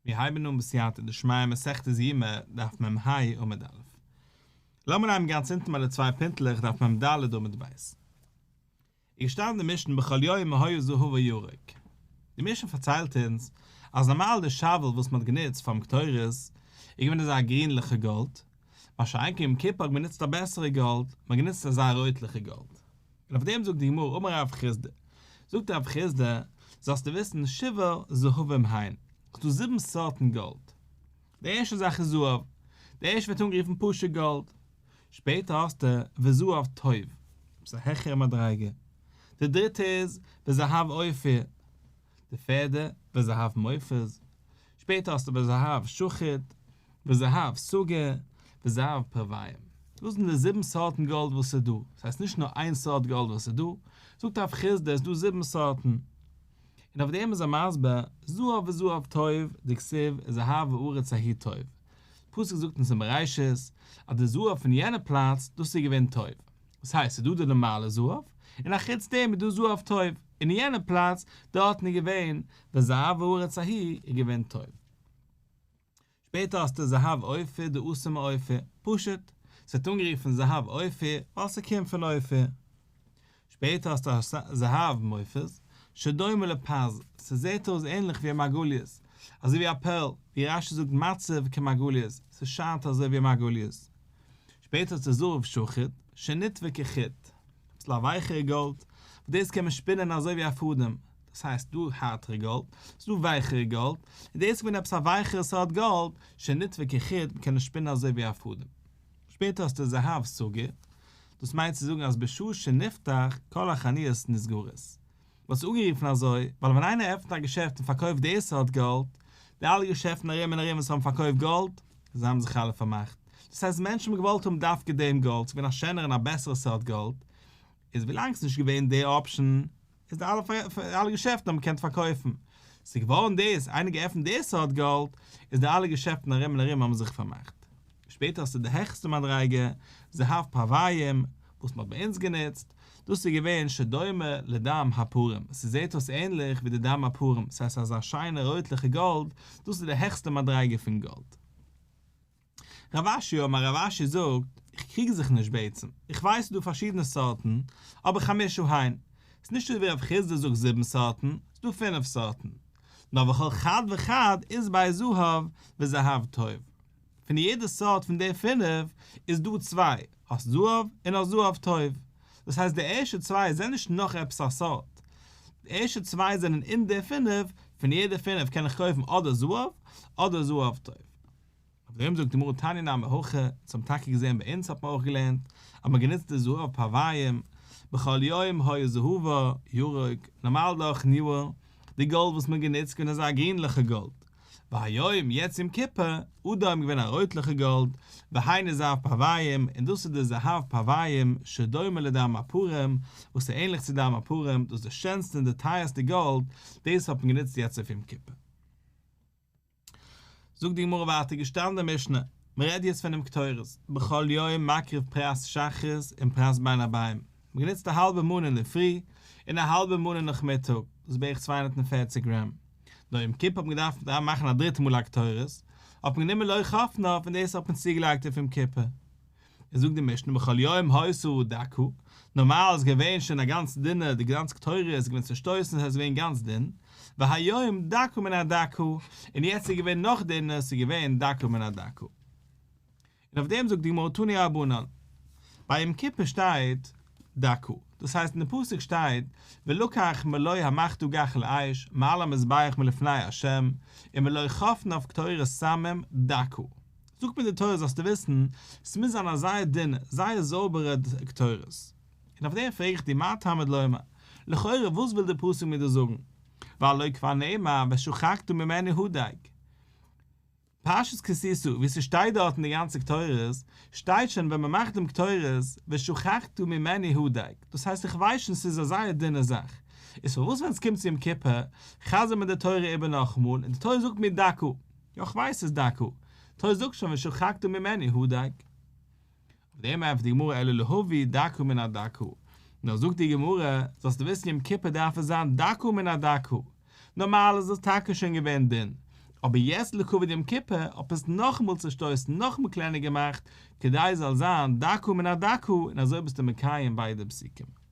מיר הייבן אן בסייעתא דשמיא מסכת יומא דף מ ה עמוד א'. לאמיר הייבן גאנץ אונטן ביי די צוויי פינטלעך דף מ ד עמוד ב'. איז געשטאנען אין משנה בכל יומא היה זהב וירק. די משנה פארציילט אונז אז נארמאל די שאוועל וואס מען האט גענוצט פארן קטורת איז געווען אזא גרינליכע גאלד, מה שאין כן יום כיפור האט מען גענוצט א בעסערע גאלד, מען האט גענוצט א זייער רויטליכע גאלד. און אויף דעם זאגט די גמרא אמר רב חיסדא, זאגט רב חיסדא, זאלסטו וויסן שבעה זהבים הן, ס'איז דא זיבן סארטן גאלד, די ערשטע זאך איז זהב, די ערשטע ווערט אנגערופן פשוט גאלד, שפעטער האסטו וזהב טוב, וואס איז א העכערע מדריגה, די דריטע איז וזהב אופיר, די פעדער, וזהב מופז, שפעטער האסטו וזהב שוחד, וזהב סוגר, וזהב פרוויים. דאס זענען די זיבן סארטן גאלד וואס איז דא. עס הייסט נישט נאר איין סארט גאלד וואס איז דא. זאגט הרב חיסדא עס איז דא זיבן סארטן. און אויף דעם איז ער מסביר, זהב וזהב טוב, דכסיב, זהב הארץ ההיא טוב. פסוק זאגט אונז אין בראשית, אז די זהב פון יענע פלאץ, דאס איז געווען טוב. וואס הייסט ס'איז דא די נארמאלע זהב, און א חוץ דעם איז דא זהב טוב, און אין יענע פלאץ דארטן איז געווען ווען זהב הארץ ההיא איז געווען טוב. שפעטער האסטו זהב אופיר די עשה מאופיר, פשוט, ס'ווערט אנגערופן זהב אופיר ווייל ס'קומט פון אופיר. שפעטער האסטו זהב מופז, שדומה לפז, ס'זעהט אויס ענליך ווי א מרגליות, אזוי ווי א פערל, ווי רשי זאגט מצב כמרגליות, ס'שיינט אזוי ווי א מרגליות. שפעטער האט זיך זהב שחוט שנתווה כחוט, אביסל א ווייכערע גאלד, וואס דאס קען מען שפינען אזוי ווי א פאדעם, דאס הייסט דא הארטערע גאלד, ס'איז דא ווייכערע גאלד, און דאס איז געווען עפעס א ווייכערע סארט גאלד, שנתווה כחוט, מען קען עס שפינען אזוי ווי א פאדעם. שפעטער האסטו זהב סוגר, דאס מיינט צו זאגן אז בשעה שנפתח כל החניות נסגרות. וואס איז אנגערופן אזוי, ווייל ווען איינער עפנט א געשעפט און פארקויפט די סארט גאלד, די אלע געשעפטן ארום און ארום וואס האבן פארקויפט גאלד, זיי האבן זיך אלע פארמאכט. דאס הייסט מענטשן האבן געוואלט האבן דווקא דעם גאלד, ס'איז געווען א שענערע און א בעסערע סארט גאלד, איז ווילאנג ס'נישט געווען די אפשן, איז די אלע אלע געשעפטן האבן געקענט פארקויפן. ס'איז געווארן דאס, איינער געעפנט די סארט גאלד, איז די אלע געשעפטן ארום און ארום האבן זיך פארמאכט. שפעטער האסטו די העכסטע מדריגה, זהב פארוויים, וואס מ'האט ביי אונז גענוצט, דאס איז געווען שדומה לדם הפרים, ס'זעט אויס ענליך ווי די דם הפרים, ס'הייסט אזא שיינע רויטליכע גאלד, דאס איז די העכסטע מדריגה פון גאלד. רב אשי און מיין רב אשי זאגט, איך קריג זיך נישט בעצם, איך ווייס ס'איז דא פארשידענע סארטן, אבער חמשה הן, ס'איז נישט אזוי ווי רב חיסדא זאגט זיבן סארטן, ס'איז דא פינף סארטן, נאר וכל חד וחד איז ביי זהב וזהב טוב. פון יעדע סארט פון די פינף איז דא צוויי, האסט זהב און האסט זהב טוב. דאס הייסט די ערשטע צוויי זענען נישט נאך עפעס א סארט. די ערשטע צוויי זענען אין די פינף, פון יעדע פינף קען איך קויפן אדער זהב אדער זהב טוב. אויף דעם זאגט די גמרא תניא נ עמי הכה, אונז האבן טאקע געזען ביי אונז האט מען אויך געלערנט אז מען גענוצט די זהב פארוויים, בכל יום היה זהבו ירוק, נארמאל דורכן יאר, די גאלד וואס מען האט גענוצט געווען אזא גרינליכע גאלד, והיום יעצט יום כיפור אדר האבן געווען א רויטליכע גאלד, והיינו זהב פרוויים, און דאס איז די זהב פרוויים שדומה לדם הפרים, וואס איז ענליך צו דם הפרים, דאס איז די שענסטע און די טייערסטע גאלד, דאס האט מען גענוצט יעצט אויף יום כיפור. זאגט די גמרא ווייטער געשטאנען אין משנה, מען רעדט יעצט פונעם קטורת, בכל יום מקריב פרת שחרית און פרת בין הבאים, מען גענוצט א האלבע מנה אינדערפרי, און א האלבע מנה נאכמיטאג, דאס איז בערך צוויי הונדערט און פֿערציק גרעם, נאר יום כיפור האט מען געדארפט דארט מאכן א דריטע מאל א קטורת, האט מען גענומען לוי חפנה און דאס האט מען צוגעלייגט אויף יום כיפור. און זאגט די משנה בכל יום האיסור הוא דקו, נארמאל איז געווען שוין א גאנץ דינער, די גאנצע קטורת איז געווען צושטויסן עס איז געווען גאנץ דין, והיום דקו מן הדקו, און יעצט איז געווען נאך דינער עס איז געווען דקו מן הדקו. און אויף דעם זאגט די גמרא תני רבנן, ביי יום כיפור שטייט דקו, דאס הייסט אין די פסוק שטייט ולקח מלוי המחטו גח לאש מעל המזבח מלפני ה' און מלוי חפן אויף קטורת סמים דקו, זאגט מיר די תורה זאלסטו וויסן, ס'מוז זיין א זייער דינע, זייער זויבערע קטורת. און אויף דעם פרעג איך דיר מה תעמוד לומר, לכאורה וואס וויל די פסוק מיר דא זאגן, והלואי כבר נאמר ושחקתו ממני הדג. פרשת כי תשא, ווי ס'שטייט דארטן די גאנצע קטורת, שטייט שוין ווען מ'מאכט דעם קטורת, ושכחתו ממני הודאג, דאס הייסט איך ווייס שוין ס'איז א זייער דינע זאך, איז פארוואס ווען ס'קומט צו יום כיפור, חזר'ן מיר די תורה איבער נאכאמאל, און די תורה זאגט מיר דוקא, יא כ'ווייס ס'איז דוקא, תורה זאגט שוין ושכחתו ממני הודאג. אויף דעם ענטפערט די גמרא אלא להביא דקו מן הדקו, נאר זאגט די גמרא, זאלסטו וויסן יום כיפור דארף עס זיין דקו מן הדקו, נארמאל איז דאס טאקע שוין געווען דין, אבער יעצט לכבוד יום כיפור האט מען עס נאכאמאל צושטויסן נאכאמאל קלענער געמאכט כדי עס זאל זיין דקו מן הדקו און אזוי ביסטו מקיים ביידע פסוקים.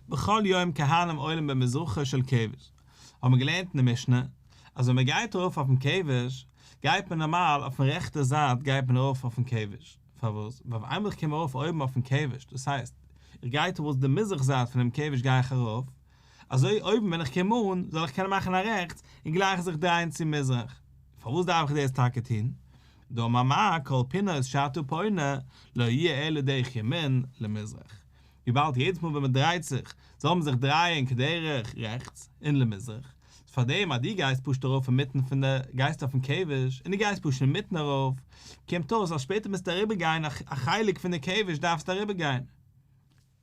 בכל יום כהנים עולים במזרחו של כבש, האט מען געלערנט אין די משנה אז ווען מען גייט ארויף אויפן כבש גייט מען נארמאל אויפן רעכטע זייט גייט מען ארויף אויפן כבש, פארוואס ווייל אויף איינמאל איך קום ארויף אויבן אויפן כבש דאס הייסט איך גיי טאווארדס די מזרח זייט פונעם כבש גיי איך ארויף, אזוי אויבן ווען איך קום אן זאל איך קענען מאכן א רעכטס און גלייך זיך דרייען צו מזרח, פארוואס דארף איך דאס טאקע טון? דאמר מר קאלפינא איז שאתו פונה לא יהיה אלא דרך ימין למזרח, וויבאלד יעדעס מאל ווען מען דרייט זיך זאל מען זיך דרייען כדרך רעכטס און למזרח, איז פארדעם אז דו גייסט פשוט ארויף אינמיטן פון די, גייסט אויפן כבש און דו גייסט פשוט אינמיטן ארויף, קומט אויס אז שפעטער מוזטו אריבערגיין א חלק פון די כבש דארפסטו אריבערגיין.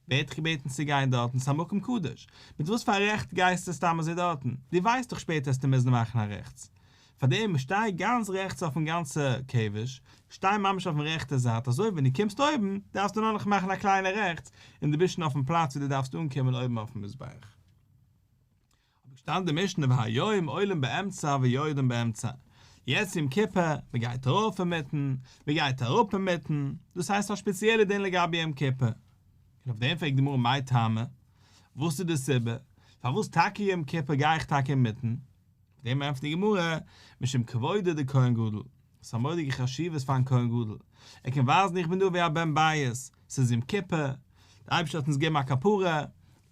ווער האט דיך געבעטן צו גיין דארטן? ס'איז א מקום קדוש. מיט וואס פאר א רעכט גייסטו סתם אזוי דארטן? דו ווייסט דאך שפעטער העסטו מוזן מאכן א רעכטס. פארדעם שטיי גאנץ רעכטס אויפן גאנצע קעוועש, שטיי ממש אויפן רעכטע זייט, אזוי ווען דו קומסט אויבן דארפסטו נאר נאך מאכן א קליינע רעכטס און דו ביסט שוין אויפן פלאץ ווי דו דארפסט אנקומען אויבן אויפן מזבח. האב איך געשטאנען די משנה והיום עולים באמצע ויורדים באמצע, יעצט יום כיפור, מען גייט ארויף אינמיטן, מען גייט אראפ אינמיטן, דאס הייסט א שפעציעלע דין לגבי יום כיפור. און אויף דעם פרעגט די גמרא מאי טעמא, וואס איז די סיבה, פארוואס טאקע יום כיפור גיי איך טאקע אינמיטן? דעם ענטפערט די גמרא, משום כבודו דכהן גדול, עס האט א מורא'דיגע חשיבות פאר'ן כהן גדול, ער קען ווייזן איך בין דא ווי א בן בית, ס'איז יום כיפור, דער אייבערשטער האט אונז געגעבן א כפרה,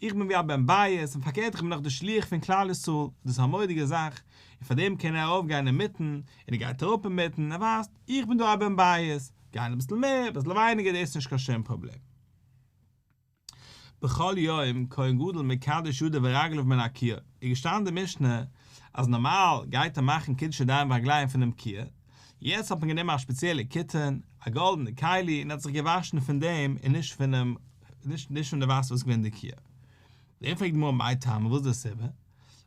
איך בין ווי א בן בית, און פארקערט איך בין דאך דער שליח פון כלל ישראל, דאס איז א מורא'דיגע זאך, און פאר דעם קען ער ארויפגיין אינמיטן, און ער גייט אראפ אינמיטן, ער ווייזט, איך בין דא א בן בית, גיין אביסל מער, אביסל ווייניגער, דאס איז נישט קיין שום פראבלעם. בכל יום כהן גדול מקדש ידיו ורגליו מן הקיה, איז געשטאנען די משנה אז נארמאל גייט ער מאכן קידוש ידיים ורגליים פונעם קיה, יעצט האט מען גענומען א ספעציעלע קיטען, א גאלדענע כלי און ער האט זיך געוואשן פון דעם און נישט פונעם נישט פון די וואסער וואס איז געווען אין די קיה. דערפאר פרעגט די גמרא מאי טעמא וואס איז די סיבה?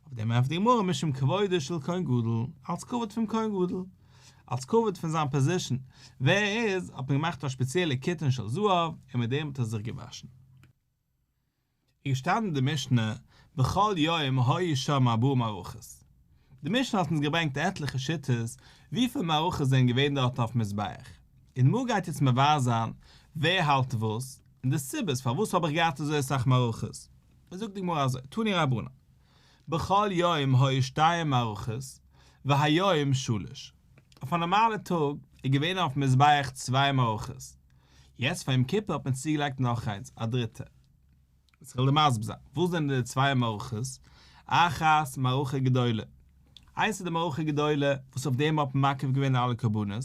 אויף דעם ענפערט די גמרא משום כבודו של כהן גדול, אלץ כבוד פון כהן גדול, אלץ כבוד פון זיין פאזישן ווער ער איז, האט מען געמאכט א שפעציעלע קיטון של זהב און מיט דעם האט ער זיך געוואשן. איז געשטאנען אין די משנה בכל יום היו שם ארבעה מערכות, די משנה האט אונז געברענגט עטליכע שיטות וויפיל מערכות זענען געווען דארט אויפן מזבח, און די גמרא גייט יעצט מבאר זיין ווער האלט וואס, און די סיבות פארוואס האב איך געהאט אזוי אסאך מערכות. זאגט די גמרא אזוי, תני רבנן, בכל יום היו שתיים מערכות והיום שלש, אויף א נארמאלע טאג איז געווען אויפן מזבח צוויי מערכות, יעצט פאר יום כיפור האט מען צוגעלייגט נאך איינס, א דריטע. יעצט כ'וועל דיר מסביר זיין, וואס זענען די צוויי מערכות? אחת מערכה גדולה, איינס איז די מערכה גדולה וואס אויף דעם האט מען מקריב געווען אלע קרבנות,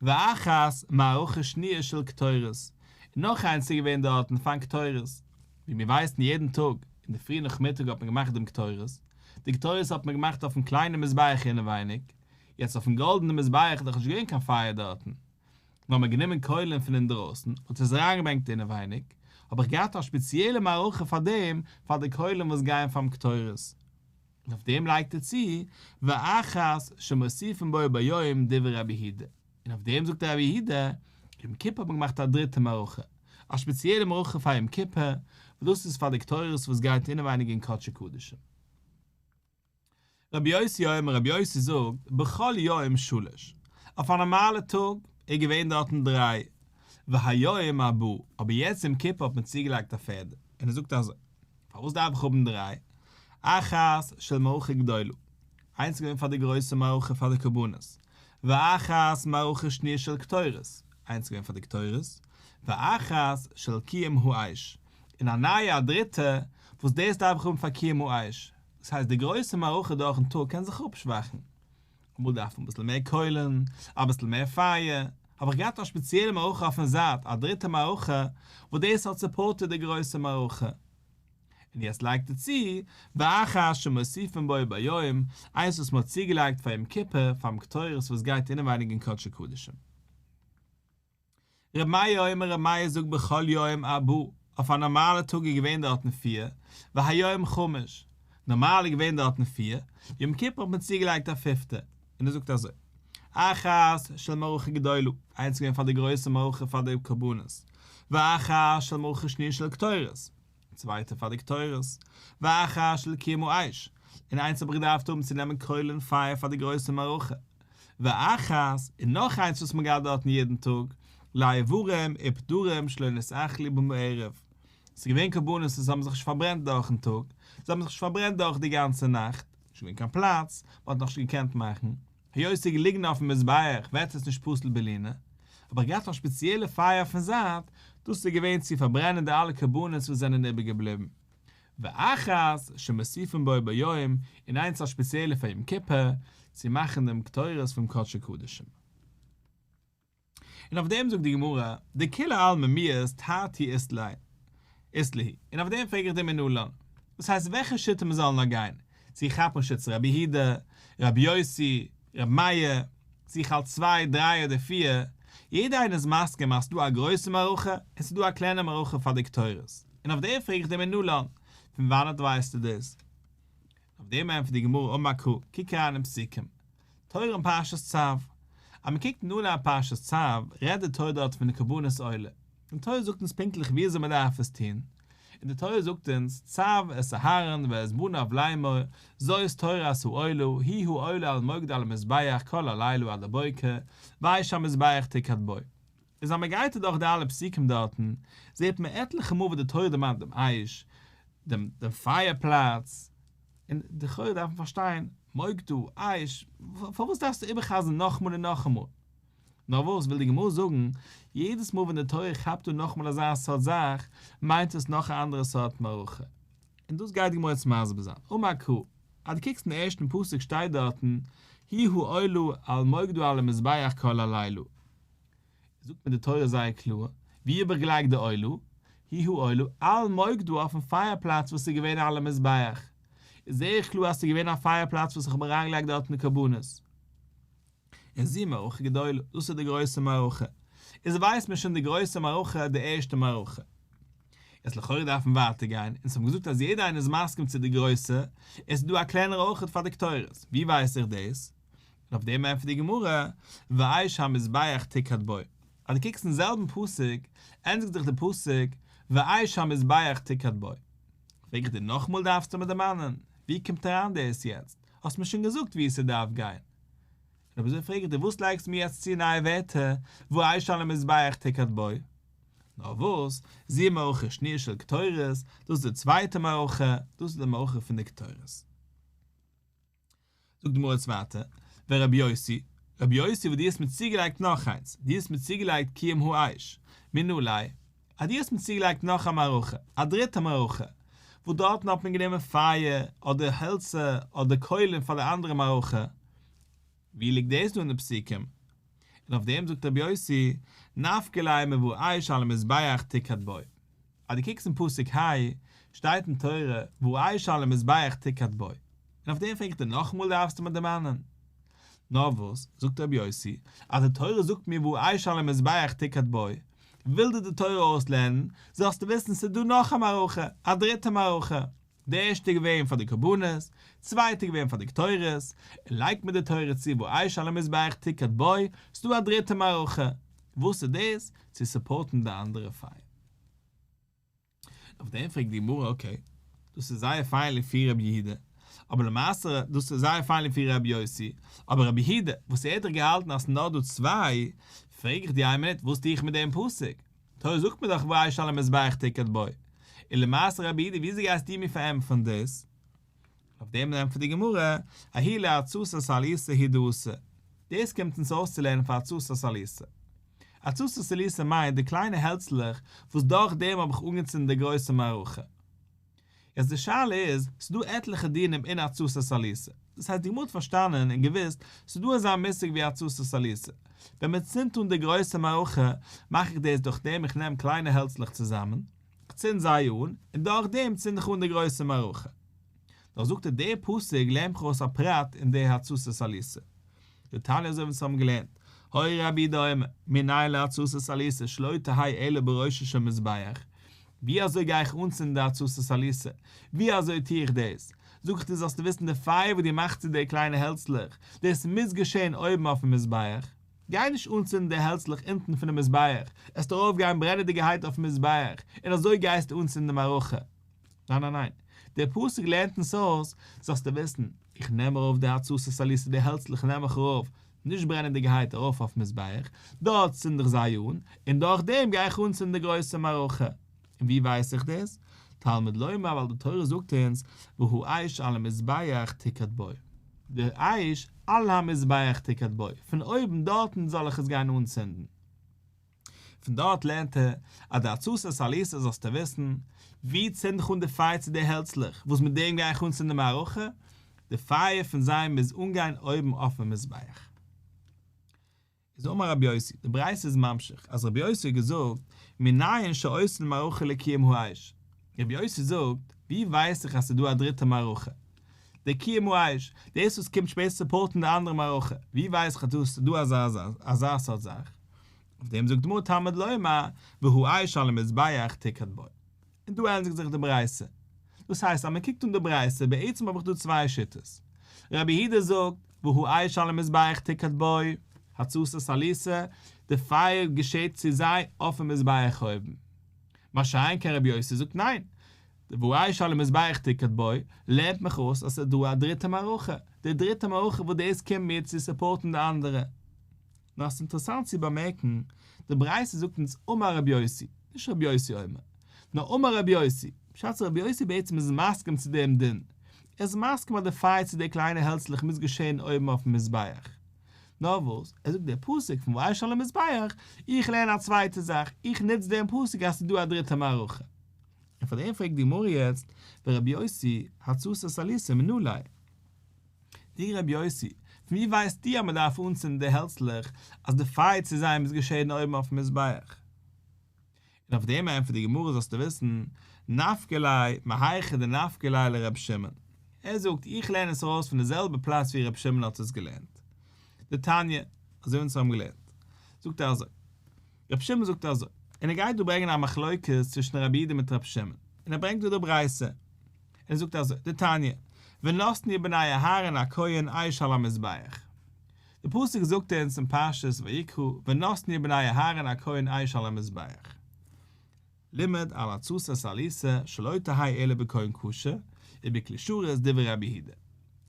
ואחת מערכה שניה של קטורת, און נאך איינס איז געווען דארטן פארן קטורת, ווי מיר ווייסן יעדן טאג אינדערפרי נאכמיטאג האט מען געמאכט דעם קטורת, די קטורת האט מען געמאכט אויפן קליינעם מזבח אינעווייניג, יעצט אויפן גאלדענעם מזבח איז דאך נישט געווען קיין פייער דארטן, נאר מען האט גענומען קוילן פון אינדרויסן און האט עס אריינגעברענגט אינעווייניג, האב איך געהאט א שפעציעלע מערכה פאר דעם, פאר די קוילן וואס גייען פארן קטורת. און אויף דעם לייגט ער צו ואחז שמוסיפין בו ביום דברי רבי היהודה, און אויף דעם זאגט רבי יהודה, יום כיפור האט מען געמאכט א דריטע מערכה, א שפעציעלע מערכה פאר יום כיפור, וואס דאס איז פאר די קטורת וואס גייט אינעווייניג אין קדשי קדשים. רבי יוסי אומר, רבי יוסי זאגט, בכל יום שלש, אויף א נארמאלע טאג איז געווען דארטן דריי, והיום ארבעה, אבער יעצט יום כיפור האט מען צוגעלייגט א פערדע, און ער זאגט אזוי. פארוואס דארף איך האבן דריי? אחת של מערכה גדולה, איינס איז געווען פאר די גרויסע מערכה פאר די קרבנות, ואחת מערכה שניה של קטורת, איינס איז געווען פאר די קטורת, ואחת של קיום האש, און א נייע א דריטע, וואס דאס דארף איך האבן פאר קיום האש, דאס הייסט די גרויסע מערכה דורכ'ן טאג קען זיך אפשוואכן. אמאל דארף מען אביסל מער קוילן, אביסל מער פייער, האב איך געהאט א שפעציעלע מערכה אויפן זייט, א דריטע מערכה, וואס דאס האט סופארטעד די גרויסע מערכה. און יעצט לייגט ער צו, ואחר שמוסיפין בו ביום, איינס וואס מ'האט צוגעלייגט פאר יום כיפור, פארן קטורת וואס גייט אינעווייניג אין קדשי קדשים. ר' מאיר אומר ר' מאיר זאגט בכל יום אבא, אויף א נארמאלע טאג איז געווען דארטן פֿיר, והיום חמש, נארמאל איז געווען דארטן פֿיר, יום כיפור האט מען צוגעלייגט א פיפטע, און ער זאגט אזוי, אחת של מערכה גדולה, איינס איז געווען פאר די גרויסע מערכה פאר די קרבנות, ואחת של מערכה שניה של קטורת. צווייטע פאר די קטורת, ואחש לקימו אש, און איינס האב איך געדארפט האבן צו נעמען קויל און פייער פאר די גרויסע מערכה, ואחת, און נאך איינס וואס מ'גייט דארטן יעדן טאג, לאיברים ובדורים שלא נשאך לי בם ערב, ס'איז געווען קרבנות וואס האבן זיך נישט פארברענט דורכ'ן טאג, זיי האבן זיך נישט פארברענט דורך די גאנצע נאכט, נישט געווען קיין פלאץ, מ'האט נאך נישט געקענט מאכן. היות ס'איז געליגן אויפן מזבח וועט עס נישט פסול בעלינא, האב איך געהאט א שפעציעלע פייער אויפן זייט, דאס איז געווען צו פארברענען די אלע קרבנות וואס זענען איבערגעבליבן. ואחת שמוסיפין בו ביום, און איינס א שפעציעלע פאר יום כיפור, צו מאכן דעם קטורת פון קדשי קדשים. און אויף דעם זאגט די גמרא, דכולי עלמא מיעז תרתי איז ליה, איז ליה, און אויף דעם פרעג איך דיר מנא לן, דאס הייסט וועלכע שיטה מען זאל נאר גיין, צו כאפן שיטת ר' יהודה, ר' יוסי, ר' מאיר, צו איך האלט צוויי, דריי אדער פיר, יעדע איינער איז מסכים אז ס'דא א גרויסע מערכה און ס'דא א קליינע מערכה פאר די קטורת, און אויף דעם פרעג איך דיר מנא לן, פון וואנעט ווייסטו דאס? אויף דעם ענטפערט די גמרא, אמר קרא, קוק אריין אין פסוקים. תורה אין פרשת צו. אז מען קוקט אין אנהייב פרשת צו, רעדט די תורה דארט פון די קרבנות עולה. די תורה זאגט אונז פונקטליך וויאזוי מען דארף עס טון. און די תורה זאגט אונז, צוו את אהרן ואת בניו לאמור, זאת תורה עשו עולה, היא העולה על מוקדה על המזבח כל הלילה עד הבוקר, ויש המזבח תקעד בו. איז אז מען גייט אדורך די אלע פסוקים דארטן, זעט מען עטליכע מאל וואס די תורה דערמאנט דעם אייש, דעם פייער פלאץ, און לכאורה דארף מען פארשטיין, מוג דו, אייש, פארוואס דארפסטו איבער'חזר'ן נאכאמאל און נאכאמאל? נאר וואס וויל די גמרא זאגן, יעדעס מאל ווען די תורה כאפט אן נאכאמאל אזא סארט זאך, מיינט עס נאך א אנדערע סארט מערכה. און דאס גייט די גמרא יעצט מסביר זיין. אמר ק, אז דו קוקסט אין ערשטן פסוק שטייט דארטן, הי' הוא עולה על מוג דו על המזבח כל הלילה. זאגט מיר די תורה זייער קלאר, ווי איבערגעלייגט די עולה, היא העולה, אל מוק דא אויפן פייער פלאץ וואס איז געווען על המזבח, איז זעהער קלאר אז ס'איז געווען א פייער פלאץ וואס איך האב אריינגעלייגט דארטן קרבנות. און זי מערכה גדולה, דאס איז די גרויסע מערכה. איז ווייסט מען שוין די גרויסע מערכה, די ערשטע מערכה. יעצט לכאורה דארף מען ווייטער גיין, אונז האבן געזאגט אז יעדער איינער איז מסכים צו די גרויסע, עס איז דא א קלענערע אויכעט פאר די קטורת, ווי ווייס איך דאס? און אויף דעם ענטפערט די גמרא, ואי שהמזבח תקעד בו, אז דו קוקסט אין זעלבן פסוק, ענדיגט זיך די פסוק, ואי שהמזבח תקעד בו. פרעג איך דיר נאכאמאל דארפסטו מיר דערמאנען, ווי קומט אריין דאס יעצט? האסט מיר שוין געזאגט ווי עס דארף גיין. און אויב אזוי פרעג איך דיר וואס לייגסטו מיר יעצט צו נייע ווערטער, ואי שהמזבח תקעד בו? נאר וואס, זי מערכה שניר של קטורת, דאס איז די צווייטע מערכה, דאס איז די מערכה פון די קטורת. זאגט די גמרא יעצט ווייטער, ורבי יוסי, רבי יוסי וואס דו האסט מיר צוגעלייגט נאך איינס, דו האסט מיר צוגעלייגט קיום האיש, מין אולי, אז דו האסט מיר צוגעלייגט נאך א מערכה, א דריטע מערכה, וואס דארטן האט מען גענומען פייער, אדער העלצער, אדער קוילען פאר די אנדערע מערכה, ווי ליגט דאס דא אין די פסוקים? און אויף דעם זאגט רבי יוסי, נפקא ליה מבאר איש על המזבח תקעד בו. אז דו קוקסט אין פסוק ה' שטייט אין תורה והוא עייש על המזבח תקד בו, און אויף דעם פרעג איך דיר נאכאמאל דארפסטו מיר דערמאנען נאר וואס זאגט רבי יוסי אז די תורה זאגט מיר והוא עייש על המזבח תקד בו, וויל דיר די תורה אויסלערנען זאלסטו וויסן ס'איז דא נאך א מערכה, א דריטע מערכה, די ערשטע איז געווען פאר די קרבנות, צווייטע איז געווען פאר די קטורת, און לייגט מען די תורה צו והוא עייש על המזבח תקד בו, ס'איז דא א דריטע מערכה, וואס איז דאס? צו סופארטן די אנדערע פיין. אויף דעם פרעגט די גמרא, אקעי, דאס איז זייער פיין לפי רבי יהודה, אבער למעשה דאס איז זייער פיין לפי רבי יוסי, אבער רבי יהודה, וואס ער האט דאך געהאלטן אז ס'איז נאר דא צוויי, פרעג איך דיר איין מינוט, וואס טו איך מיט דעם פסוק? תורה זאגט מיר דאך וישן על המזבח תקת בו. און למעשה רבי יהודה וויאזוי גייסטו מיר פארענטפערן דאס? אויף דעם ענטפערט די גמרא, אהי לעצות הסליסה היא דעוסה, דאס קומט אונז אויסצולערנען פון עצות הסליסה. עצות הסליסה מיינט די קליינע העלצלעך וואס דורך דעם האב איך אנגעצינדן די גרויסע מערכה. יעצט די שאלה איז, ס'דא עטליכע דינים אין עצות הסליסה, דאס הייסט די גמרא האט פארשטאנען און געוואוסט, ס'דא אזא מושג ווי עצות הסליסה, ווען מ'צינדט אן די גרויסע מערכה, מאך איך דאס דורך דעם איך נעם קליינע העלצלעך צוזאמען, כ'צינד זיי אן, און דורכדעם צינד איך אן די גרויסע מערכה. דאך זאגט ער דער פסוק לערן מיך אויס א פרט אין דער התססה סליסה. די תניא אזוי ווי אונז האבן געלערנט, הוי רבי דא אומר, מנין להתססה סליסה שלא תהי' עולה בראשו של מזבח, ווי אזוי גיי איך אנצינדן די התססה סליסה, ווי אזוי טו איך דאס? זאג איך דיר זאלסטו וויסן די פייער וואס דו מאכסט צו די קליינע העלצלעך, דאס מוז געשען אויבן אויפן מזבח. גיי נישט אנצינדן די העלצלעך אונטן פונעם מזבח, עסט ארויפגיין ברענעדיגערהייט אויפן מזבח, און אזוי גייסטו אנצינדן די מערכה. ניין ניין ניין, דער פסוק לערנט אונז אויס, זאלסטו וויסן, איך נעם ארויף די הצתות עליסה די העלצלעך נעם איך ארויף, נישט ברענעדיגערהייט ארויף אויפן מזבח, דארט צינד איך זיי אן, און דורכדעם גיי איך אנצינדן די גרויסע מערכה. און ווי ווייס איך דאס? תלמוד לומר ווייל די תורה זאגט אונז והוא אש על המזבח תקד בו. דער אש על המזבח תקד בו, פון אויבן דארטן זאל איך עס גיין אנצינדן. פון דארט לערנט ער אז די עצתו סליסה זאלסטו וויסן, ווי צינד איך אן די פייער צו די העלצלעך וואס מיט דעם גיי איך אנצינדן מערכה? די פייער פון זיי מוז אנגיין אויבן אויפן מזבח. איז אמר רבי יוסי, די ברייתא איז ממשיך, אז רבי יוסי האט געזאגט, מנין שאוסרין מערכה לקיום האש? רבי יוסי זאגט, ווי ווייס איך אז ס'איז דא א דריטע מערכה? די קיום האש, דאס וואס קומט שפעט צו סופארטן די אנדערע מערכה, ווי ווייס איך אז דא ס'איז דא אזא אזא סארט זאך? אויף דעם זאגט די גמרא תמד לומר, והוא אש על המזבח תקד בו. און דא ענדיגט זיך די ברייתא. דאס הייסט אז מען קוקט אן די ברייתא, בעצם האב איך דא צוויי שיטות. רבי יהודה זאגט, והוא אש על המזבח תקהת בו, הצתות סליסה, די פייער געשעט צו זיי אויפן מזבח אויבן. מה שאין כן רבי יוסי זאגט ניין, והוא אש על המזבח תקהת בו, לערנט מיך אויס אז ס'איז דא א דריטע מערכה, די דריטע מערכה וואס דאס קומט מיר צו סופארטן די אנדערע. נאר ס'איז אינטערעסאנט צו באמערקן, די ברייתא זאגט אונז אמר רבי יוסי, נישט רבי יוסי אומר, נאר אמר רבי יוסי, בשעת אז רבי יוסי בעצם איז מסכים צו דעם דין, ער איז מסכים אז די פייער צו די קליינע העלצלעך מוז געשען אויבן אויפן מזבח. נאר וואס, ער זאגט דער פסוק פון וישן על המזבח, איך לערן א צווייטע זאך, איך נוץ דעם פסוק אז ס'איז דא א דריטע מערכה. און פאר דעם פרעגט די גמרא יעצט, ורבי יוסי, הצעת סליסה מנלהי. די רבי יוסי, פון ווי ווייסטו אז מען דארף אנצינדן די העלצלעך אז די פייער צו זיי מוז געשעהן אויבן אויפן מזבח? און אויף דעם ענטפערט די גמרא זאלסטו וויסן, נפקא ליה מהיכא דנפקא ליה לרבי שמעון, ער זאגט איך לערן עס ארויס פון די זעלבע פלאץ ווי רבי שמעון האט עס געלערנט, די תניא, אזוי ווי אונז האבן געלערנט, זאגט ער אזוי, רבי שמעון זאגט אזוי, און ער גייט דא ברענגען א מחלוקת צווישן רבי אידה מיט רבי שמעון, און ער ברענגט דא די ברייתא, און ער זאגט אזוי, די תניא, ונתני בני אהרן הכהן אש על המזבח, די פסוק זאגט אונז אין פרשת ויקרא, ונתני בני אהרן הכהן אש על המזבח. לימד על התוס' סליסה שלא תהי' אלא בקוים קשה ובכלי שרת דברי רבי היהודה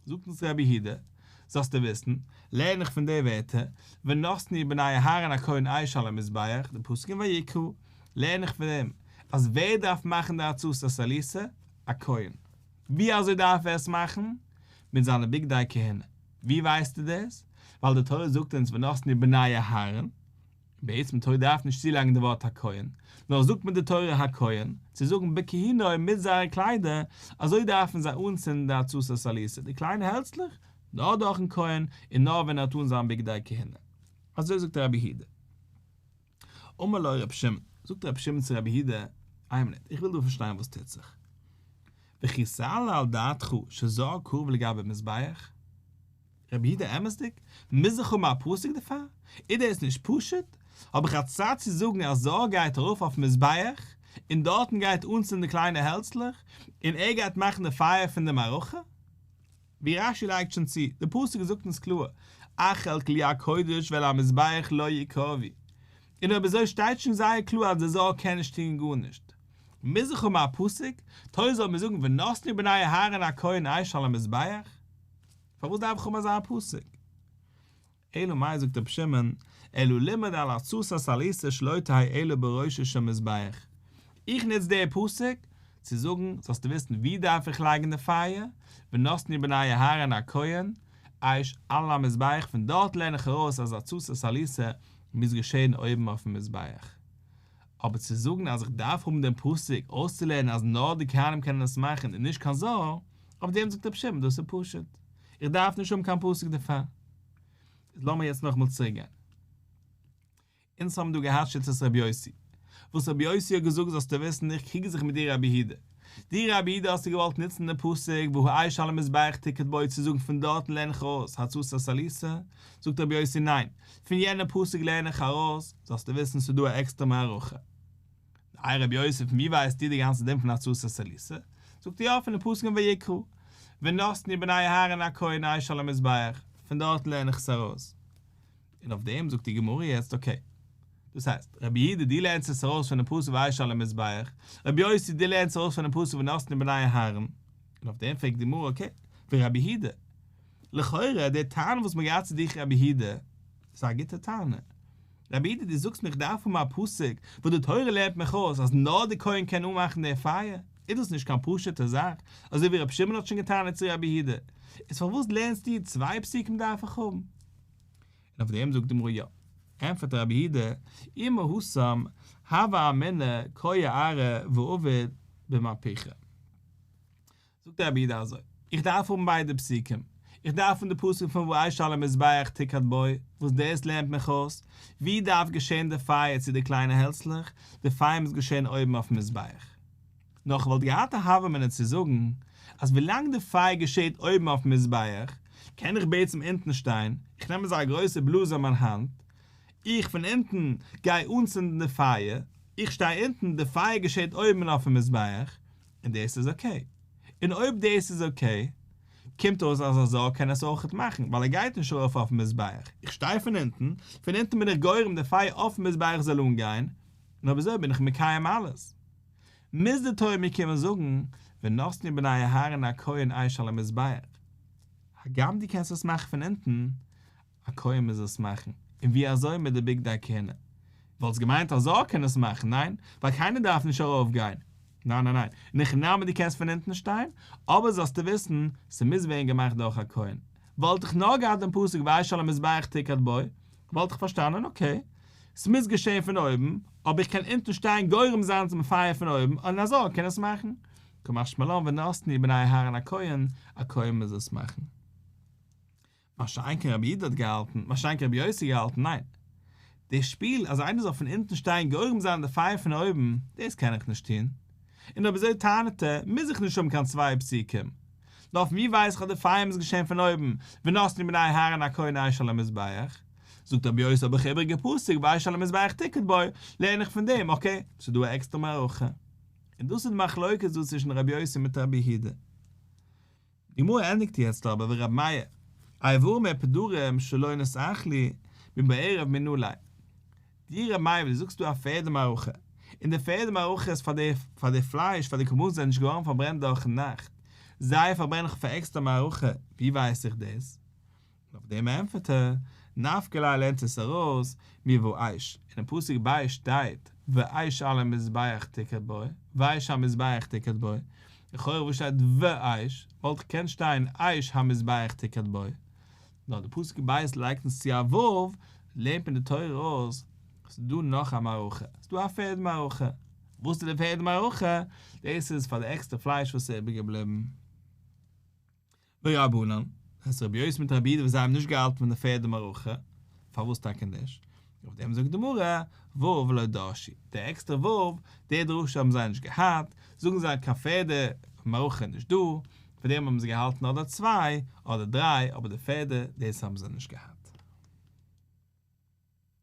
זאגט אונז רבי היהודה זאלסטו וויסן לערן איך פון די ווערטער ונתני בני אהרן הכהן עיש על המזבח די פסוק אין ויקרא לערן איך פון אים אז ווער דארף מאכן די התוס' סליסה א כהן ווי אזוי דארף ער עס מאכן מיט זיינע בגדי כהונה ווי ווייסטו דאס ווייל די תורה זאגט אונז ונתני בני אהרן בעצם טוי דארף נישט צולייגן די ווארט הכהן, נאר זאגט מיט די תורה הכהן, צו זאגן בכהינוי מיט זייערע קליידער, אזוי דארפן זיי אנצינדן די עצתו סליסה, די קליינע העלצלעך, נאר דורכן כהן, און נאר ווען ער האט אן זיין בגדי כהונה. אזוי זאגט רבי היהודה. אמר לו רבי שמעון, זאגט רבי שמעון צו רבי היהודה, איין מינוט, איך וויל דא פארשטיין וואס טוט זיך. וכי סעלה על דעתך שזו הכהונה לגבי מזבח? רבי יהודה אמת'דיג? מוז איך האבן א פסוק דערפאר? אידער איז נישט פשוט? האב איך א צד צו זאגן אז זאב גייט ארויף אויפן מזבח און דארטן גייט אנצינדן די קליינע העלצלעך און ער גייט מאכן די פייער פון די מערכה? ווי רשי לייגט שוין צו, די פסוק זאגט אונז קלאר אכל כלי הקודש ועל המזבח לא יקרבי. און אויב אזוי שטייט שוין זייער קלאר אז דער זאב קען נישט טון גארנישט. מוז איך האבן א פסוק? טוי זאל מיר זאגן ונתנו בני אהרן הכהן אש על המזבח? פארוואס דארף איך האבן אזא פסק? אלא מאי זאגט רבי שמעון, אלא לימד על עצתו הסליסה שלא תהא אלא בראשו של מזבח, איך נוץ די פסק צו זאגן זאלסטו וויסן וואו דארף איך לייגן די פייער, ונתני בני אהרן הכהן אש על המזבח, פון דארט לערן איך ארויס אז עצתו הסליסה מוז געשען אויבן אויפן מזבח, אבער צו זאגן אז איך דארף האבן דעם פסוק אויסצולערנען אז נאר די כהנים קענען עס מאכן איז נישט קיין זאל, אויף דעם זאגט רבי שמעון דאס איז פשוט, איך דארף נישט האבן קיין פסוק דערפאר. איז לאמיר יעצט נאכאמאל צוריק גיין. אונז האבן דא געהאט שיטת רבי יוסי. וואס רבי יוסי האט געזאגט זאלסטו וויסן איך קריג זיך מיט דיר רבי הידע. די רבי איד האסטו געוואלט נוצן די פסוק והוא עייש על המזבח תקעט בו צו זאגן פון דארטן לערן איך ארויס הצצה סליסה? זאגט רבי יוסי ניין, פון יענע פסוק לערן איך ארויס, זאלסטו וויסן ס'איז דא א עקסטער מערכה. איי רבי יוסי פון ווי ווייסט איר די גאנצע דין פון הצצה סליסה? זאגט יא פון די פסוק אין ויקרא ונתני בני אהרן הכהן עייש על המזבח, פון דארטן לערן איך עס ארויס. און אויף דעם זאגט די גמרא יעצט אקעי, דאס הייסט, רבי יהודה דו לערנסט עס ארויס פונעם פסוק ואיש על המזבח, רבי יוסי דו לערנסט ארויס פונעם פסוק ונתנו בני אהרן, און אויף דעם פרעגט די גמרא אקעי, ווי רבי יהודה, לכאורה די טענה וואס מ'האט געהאט צו דיך רבי יהודה, איז א גוטע טענה, רבי יהודה דו זאגסט מיר איך דארף האבן א פסוק וואס די תורה לערנט מיך אויס אז נאר די כהן קען אנמאכן די פייער, איז דאס נישט קיין פשוט'ע זאך, אזוי ווי רבי שמעון האט שוין געטענה'ט צו רבי יהודה, איז פארוואס לערנסטו צוויי פסוקים דארף איך האבן? און אויף דעם זאגט די גמרא יא. ענטפערט רבי הידע, אימא הושם הוה אמינא קוה ארא ועובד במהפכה. זאגט רבי הידע אזוי, איך דארף האבן ביידע פסוקים, איך דארף פון די פסוק פון ואש על המזבח תקד בו, וואס דאס לערנט מיך אויס, ווי דארף געשען די פייער צו די קליינע העלצלעך, די פייער מוז געשען אויבן אויפן מזבח. נאר כ'וואלט געהאט א הוה אמינא צו זאגן אז ווילאנג די פייער געשעהט אויבן אויפן מזבח, קען איך בעצם אונטן שטיין, איך נעם אזא גרויסע בלאז אין מיין האנט, איך פון אונטן גיי אנצינדן די פייער, איך שטיי אונטן, די פייער געשעהט אויבן אויפן מזבח, און דאס איז אקעי. און אויב דאס איז אקעי, קומט אויס אז א זאג קען עס אויכעט מאכן, ווייל ער גייט נישט ארויף אויפן מזבח, איך שטיי פון אונטן, פון אונטן בין איך גורם די פייער אויפן מזבח זאל אנגיין, און אויב אזוי בין איך מקיים אלעס. מוז די תורה מיר קומען זאגן ונתנו בני אהרן הכהן עיש על המזבח, הגם דו קענסט עס מאכן פון אונטן, א כהן מוז עס מאכן, און ווי אזוי מיט די בגדי הכהונה? וואלסט געמיינט א זאל קען עס מאכן, ניין? ווייל קיינער דארף נישט ארויף גיין, ניין ניין ניין, ניחא נאמר דו קענסט פון אונטן שטיין, אבער זאלסטו וויסן ס'מוז ווערן געמאכט דורך א כהן, וואלט איך נאר געהאט דעם פסוק ועיש על המזבח תקת בו, וואלט איך פארשטאנען, אקעי, ס'מוז געשען פון אויבן, אבער איך קען אונטן שטיין גורם זיין צום פייער פון אויבן, אן אזא קען עס מאכן? כמשמעלן ונתני בני אהרן הכהן א כהן מוז עס מאכן. משא כ רבי איד האט געהאלטן, משא כ רבי יוסי געהאלטן, ניין. די שפיל אז איינער זאל פון אונטן שטיין גורם זיין די פייער פון אויבן, דאס קען איך נישט טון. און אויב אזוי טענה'ט ער, מוז איך נישט האבן קיין צוויי פסוקים, נאר פון ווי ווייס איך אז די פייער מוז געשען פון אויבן, ונתנו בני אהרן הכהן אש על המזבח, זאגט רבי יוסי האב איך איבריגע פסוק ואש על המזבח תקד בו, לערן איך פון דעם, אקעי, ס'איז דא א עקסטערע מערכה. און דאס איז די מחלוקת דא צווישן רבי יוסי מיט רבי יהודה. די גמרא ענדיגט יעצט אבער ווי רבי מאיר, איי ווארום ער פדורים שלא נשאך לי, מבערב מינולי. די ר' מאיר ווי די זאגסט דא א פערדע מערכה, און די פערדע מערכה איז פאר די פאר די פלייש פאר די קרבנות זענען נישט געווארן פארברענט דורכן נאכט, זיי פארברענען איך פאר עקסטער מערכה, ווי ווייס איך דאס? און אויף דעם ענפערט ער, נפק ל לערנט עס ארויס מי וואו אייש, אינעם פסוק ב שטייט ואייש על המזבח תקעד בו, ואייש המזבח תקעד בו, לכאורה וואו שטייט ואייש, וואלט געקענט שטיין אייש המזבח תקעד בו, נאר די פסוק אין בית לייגט אונז צו א וו, לערנט מען די תורה אויס, ס'איז דא נאך א מערכה, ס'איז דא א פערד מערכה, וואס איז די פערד מערכה? דאס איז פאר די עקסטער פלייש וואס איז איבער געבליבן. לא ירבנן, אז רבי'ס מיט רבי'ס וואס זיי האבן נישט געהאלטן פון די פערד מערכה, פארוואס טאקע נישט? אויף דעם זאגט די גמרא, ו' ולא דרשי, די עקסטערע ו', די דרשה האבן זיי נישט געהאט, זאגן זיי קיין פערדע מערכה איז נישט דא, פון דעם האבן זיי געהאלטן אדער צוויי אדער דריי, אבער די פערדע, דאס האבן זיי נישט געהאט.